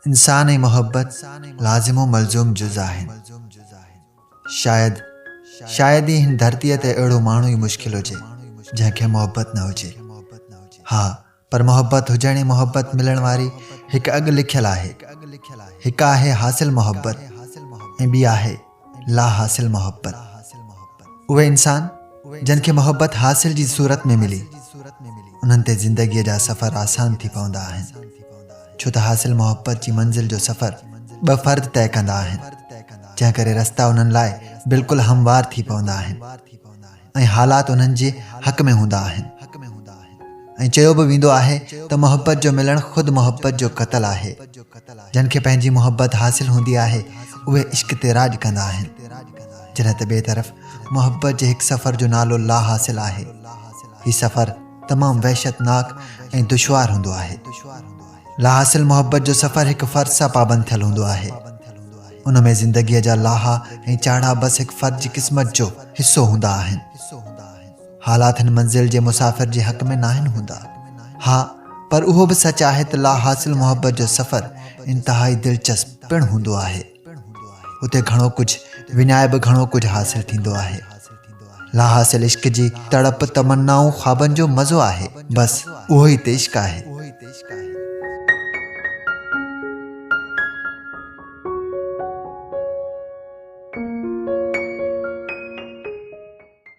انسان ۽ محبت لازم و ملزوم جز آهن. شايد شايد ئي هن ڌرتيء تي اهڙو ماڻهو ئي مشڪل هجي، جنهن کي محبت نه هجي. ها، پر محبت هجڻ ۽ محبت ملڻ واري هڪ اڳ لکيل آهي. هڪ آهي حاصل محبت ۽ ٻي آهي. لا حاصل محبت اهي انسان جن کي محبت حاصل جي صورت ۾ ملي انهن تي زندگيء جا سفر آسان ٿي پوندا آهن ڇو ته حاصل محبت جي منزل جو سفر ٻه فرد طئي ڪندا آهن جنهن ڪري رستا انهن لاء بلڪل هموار ٿي پوندا آهن ۽ حالات انهن جي حق ۾ هوندا آهن ۽ چيو به ويندو آهي ته محبت جو ملڻ خود محبت جو قتل آهي. جن کي پنهنجي محبت حاصل هوندي آهي اهي عشق تي راڄ ڪندا آهن جڏهن ته ٻئي طرف محبت جي هڪ سفر جو نالو لا حاصل آهي. هي سفر تمام وحشتناڪ ۽ دشوار هوندو آهي. لاحاصل محبت جو سفر هڪ فرد سان پابند ٿيل هوندو آهي. ان ۾ زندگيء جا لاها ۽ چاڙها بس هڪ فرد جي قسمت جو حصو هوندا آهن. حالات هن منزل جي مسافر جي حق ۾ ناهن هوندا. ها پر اهو به سچ آهي ته لاحاصل محبت جو سفر انتهائي دلچسپ پڻ هوندو آهي. پڻ هوندو آهي. هتي گهڻو ڪجهه وڃائي به گهڻو ڪجهه حاصل ٿيندو آهي. لا حاصل عشق جي تڙپ، تمنائون، خوابن جو مزو آهي. بس اهو ئي ته عشق آهي.